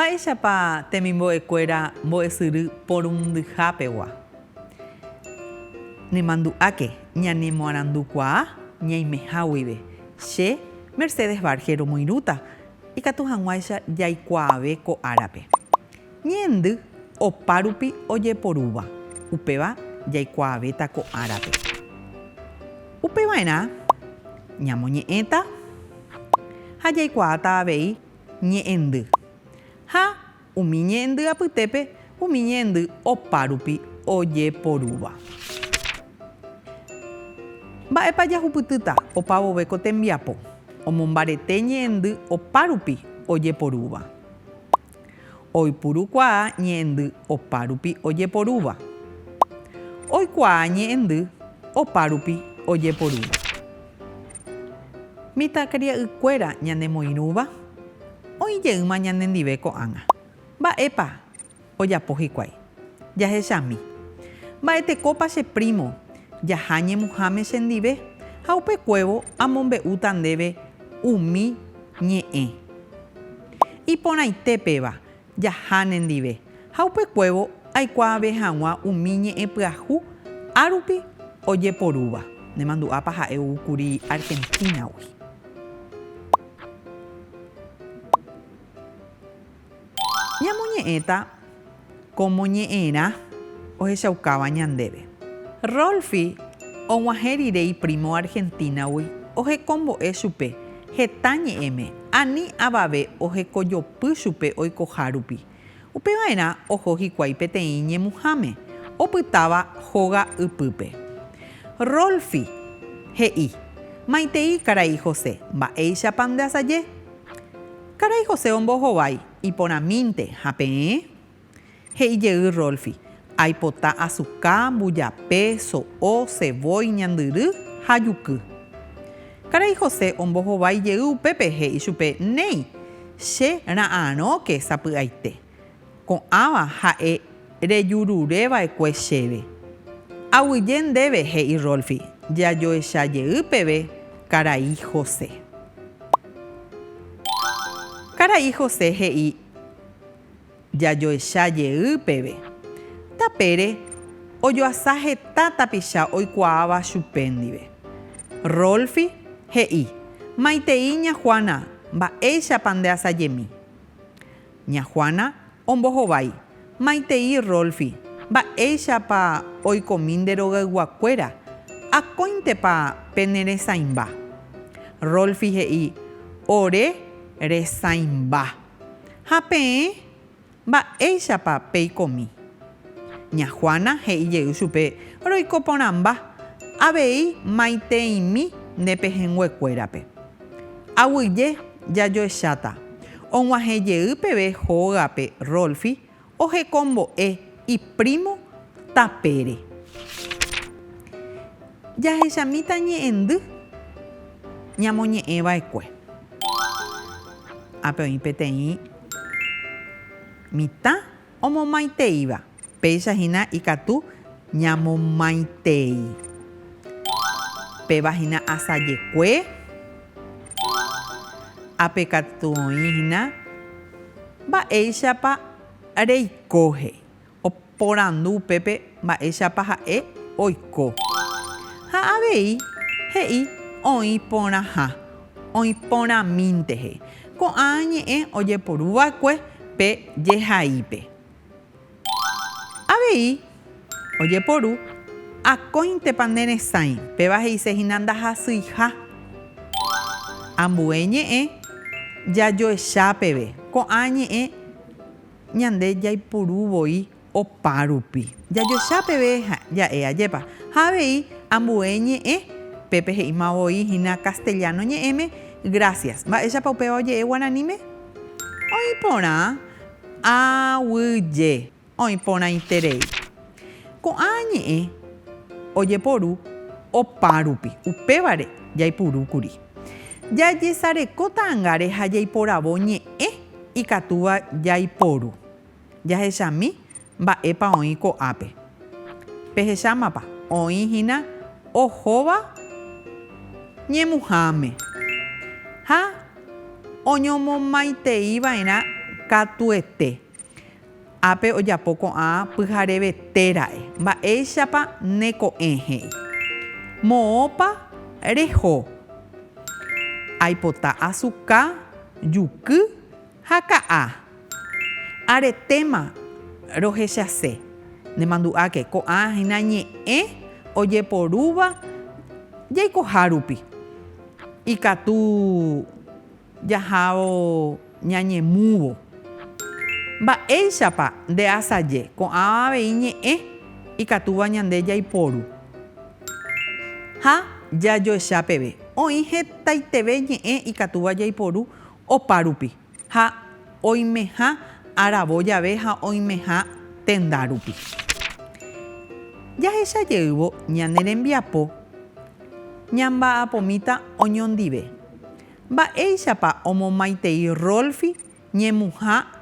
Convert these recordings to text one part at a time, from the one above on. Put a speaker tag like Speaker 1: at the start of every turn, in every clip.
Speaker 1: Mba'éichapa temimbo'ekuéra mbo'esyry porundyhápegua? Nemandu'áke ñanemoarandukuaa ñaimeha guive. Che, Mercedes Varge, romoirũta. Ikatu hag̃uáicha jaikuaave ko árape. Ñe'ẽndy opárupi ojeporúva, upéva jaikuaavéta ko árape. Upeva'erã ñamoñe'ẽta ha jaikuaáta avei ñe'ẽndy ha Umi ñe'ẽndy apytépe umi ñe'ẽndy opárupi ojeporúva. Mba'épa jahupytýta opa vove ko tembiapo omombarete ñe'ẽndy opárupi ojeporúva? Oipurukuaa ñe'ẽndy opárupi ojeporúva. Oikuaa ñe'ẽndy opárupi ojeporúva. Mitãkaria'ykuéra ñanemoirũva oĩ jeýma ñanendive ko'ág̃a. Mba'épa ojapo hikuái? Jahechami. Mba'etekópa che prímo jaha ñemuháme chendive ha upekuévo amombe'úta ndéve umi ñe'ẽ. Iporãite péva Jaha nendive, ha upekuévo aikuaave hag̃ua umi ñe'ẽ pyahu árupi ojeporúva. Nemandu'ápa ha'e ou kuri Argentínagui. Ñamoñe'ẽta kómo ñe'ẽrã ohechaukáva ñandéve. Rolfi og̃uahẽ rire iprímo Argentínagui ohekombo'e chupe. Heta ñe'ẽme, ani avave ohekojopy chupe oikoha rupi. Upe va'erã oho hikuái peteĩ ñemuháme, opytáva hóga ypýpe. Rolfi, he'i, Maitei, karai José, mba'éichapa ndeasaje? Karai José ombohovái, iporãmínte, ha peẽ? He'i jey Rolfi, Aipota azuka, mbujape, so'o, ceboy, ñandyry ha juky. Karai José ombohovái jey upépe he'i chupe, Néi, che ra'arõ ke sapy'aite. Ko'ãva ha'e rejurure va'ekue chéve. Aguyje ndéve, he'i Rolfi, jajoecha jey peve karai José. Karai José he'i. Jajoecha jey peve. Tapére, ojoasa heta tapicha oikuaáva chupe ndive. Rolfi, he'i, Maitei, ña Juana, mba'éichapa nde asajemi. Ña Juana, ombohovái, Maitei, Rolfi, mba'éichapa oikomi nde rogayguakuéra, akóintepa pene resãimba. Rolfi he'i, Ore resãimba. Ha peẽ, mba'éichapa peikomi? Ña Juana he'i jey chupe, Roiko porãmba, avei maitẽimi nde pehẽngue kuérape. Aguyje jajoecháta, og̃uahẽ jey peve hógape Rolfi Ohekombo'e iprímo tapére. Jahechamíta ñe'ẽndy ñamoñe'ẽva'ekue. Ápe oĩ peteĩ mitã omomaiteíva. Péicha hína ikatu ñamomaitei. Péva hína asajekue. Ápe katu oĩ hína Mba'éichapa reiko he'i. Oporandu upépe mba'éichapa ha'e oiko. Ha avei he'i oĩ porãha, oĩ porãmínte he'i. Ko'ã ñe'ẽ ojeporu va'ekue pe jehaípe. Avei ojeporu, Akóintepa neresãi? Péva he'ise hína ndahasyiha. Ambue ñe'ẽ jajoecha peve. Ko'ã ñe'ẽ ñande jaipuru voi opa rupi. Jajoecha peve ja'e ajépa. Ha avei ambue ñe'ẽ, pépe he'íma voi hína castellano ñe'ẽme, Gracias. Mba'éichapa upéva oje'e guaraníme? Oĩ porã. Aguyje oĩporãiterei. Ko'ã ñe'ẽ ojeporu opárupi, upévare jaipurúkuri. Jajesareko ta'angáre ha jaiporavo ñe'ẽ ikatúva jaiporu. Jahechami Mba'épa oĩ ko'ápe? Pehechámapa, oĩ hína ohóva ñemuháme ha oñomomaiteiva'erã katuete. Ápe ojapo ko'ã pyharevete ra'e. Mba'éichapa ne ko'ẽ? he'i. Moõpa reho? Aipota asuka, juky Ha ka'a, aretéma rohechase, nemandu'áke, ko'ã hína ñe'ẽ ojeporúva jaikohárupi, ikatu jahávo ñañemúvo. Mba'éichapa ndeasaje, ko'ã avei ñe'ẽ ikatúva ñande jaiporu. Ha jajoecha peve, oĩ hetaiteve ñe'ẽ ikatúva jaiporu Opárupi, ha oimeha aravo jave ha oimeha tendárupi. Jahecha jeývo ñane rembiapo, ñamba'apomíta oñondive. Mba'éichapa omomaitei Rolfi ñemuha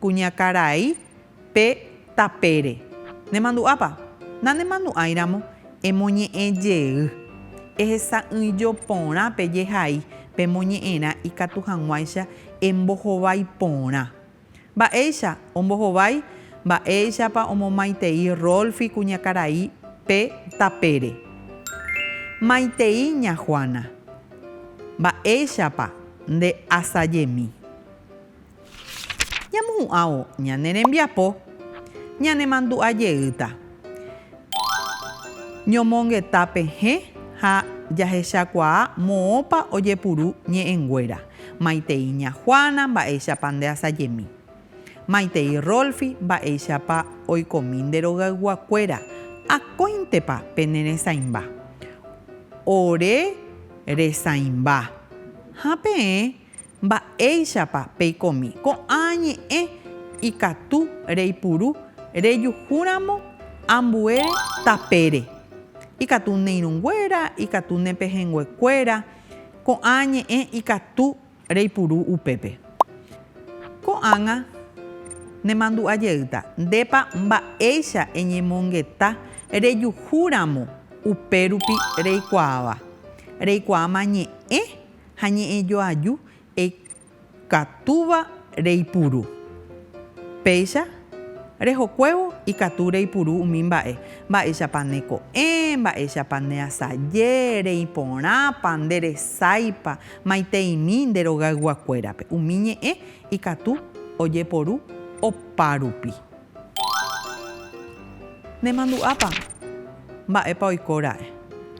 Speaker 1: Kuñakarai pe tapére. Nemandu'ápa? Nanemandu'áiramo, emoñe'ẽ jey. Ehesa'ỹijo porã pe jehai pemoñe'ẽrã ikatu hag̃uáicha embohovái porã. Mba'éicha ombohovái? Mba'éichapa omomaitei Rolfi kuñakarai pe tapére? Maitei ña Juana. Mba'éichapa nde asajemi? Ñamohu'ãvo ñane rembiapo, ñanemandu'a jeýta. Ñomongeta pehẽ ha jahechakuaa moõpa ojepuru ñe'ẽnguéra, maitei ña Juana mba'éichapa ndeasajemi, maitei Rolfi mba'éichapa oikomi nde rogayguakuéra, akóintepa pene resãimba. Ore resãimba. Ha peẽ Mba'éichapa peikomi? Ko'ã ñe'ẽ ikatu reipuru rejuhúramo ambue tapére. Ikatu ne irũnguéra, ikatu ne pehẽnguekuéra. Ko'ã ñe'ẽ ikatu reipuru upépe. Ko'ág̃a nemandu'a jeýta, ndépa mba'éicha eñemongeta rejuhúramo upérupi reikuaáva. Reikuaáma ñe'ẽ ha ñe'ẽ joaju ikatúva reipuru. Péicha rehokuévo ikatu reipuru umi mba'e, mba'éichapa ne ko'ẽ, mba'éichapa ne asaje, rei porãpa, nde resáipa, maiteimi nde rogaygua kuérape. Umi ñe'ẽ ikatu ojeporu opárupi. Ne mandu'ápa? Mba'épa oiko ra'e?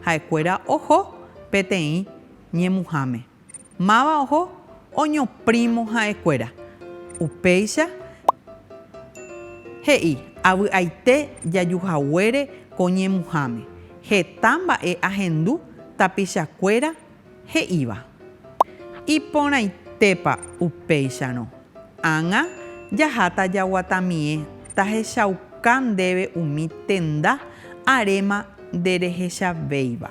Speaker 1: Ha'ekuéra oho peteĩ ñemuháme. Máva oho oñoprímo ha'ekuéra. Upéicha he'i, Avy'aite jajuhaguére ko ñemuháme. Heta mba'e ahendu tapichakuéra he'íva. Iporãitépa upéicharõ? Ág̃a jaháta jaguatamie tahechauka ndéve umi tenda aréma nderehechavéiva.